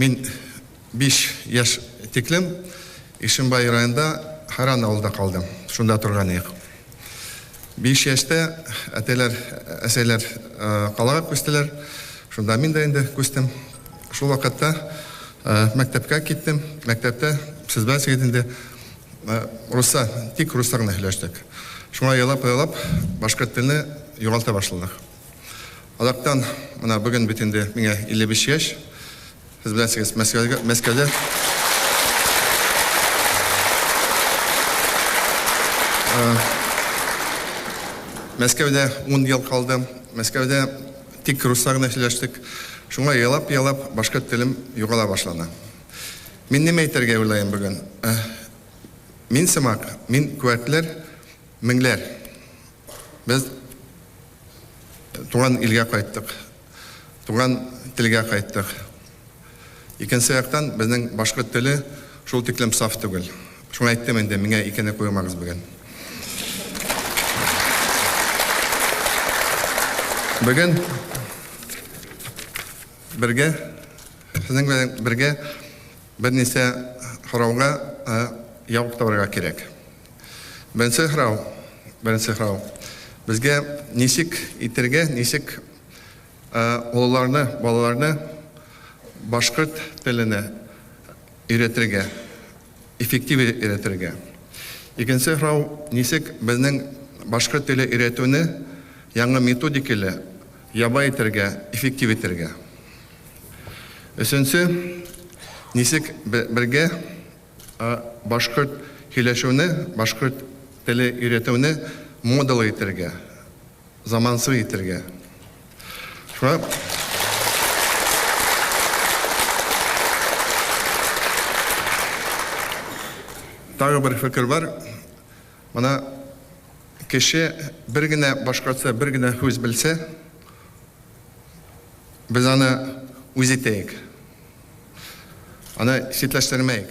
Мин биш яшь тиклем Ишембай районында Харан авылда калдым. Шунда торган идек. Биш яшьтә әтәләр, әсәйләр калага күчтеләр. Шунда мин дә инде күчтем. Шул вакытта мәктәпкә киттем. Мәктәптә, сез беләсегез инде, русса, тик руслар гына һөйләштек. Шуңа елап-елап башкорт телне югалта башладык. Азактан менә бүген бит инде миңа 55 яшь. Сез беләсегез, Мәскәүгә, Мәскәүдә э, Мәскәүдә 10 ел калдым. Мәскәүдә тик руслар гына сөйләштек. Шуңа ялап-ялап башкорт телем югала башлана. Мин нимә әйтергә уйлаем бүген? Э, мин сымак, мин күәтләр, меңләр. Без туган илгә кайттык, туган телгә кайттык. Икенче яктан, безнең башкорт теле шул тиклем саф түгел. Шуңа әйттем инде, миңа икене куймагыз бүген. Бүген бергә, сезнең белән бергә берничә һорауга явып табарга кирәк. Беренче сорау, беренче сорау. Безгә ничек итергә, ничек олыларны, балаларны башкорт теленә өйрәтергә, эффектив өйрәтергә? Икенче сорау, ничек безнең башкорт теле өйрәтүне яңа методикалы яба итергә, эффектив итергә? Өченче, ничек бергә Ә башкорт һөйләшүне, башкорт теле өйрәтүне модалы итәргә, замансы итәргә. Шуңа тагы бер фикер бар. Моны кеше бер генә башкортча бер генә һүз белсә, без аны үз итәек. Аны читләштермәйк.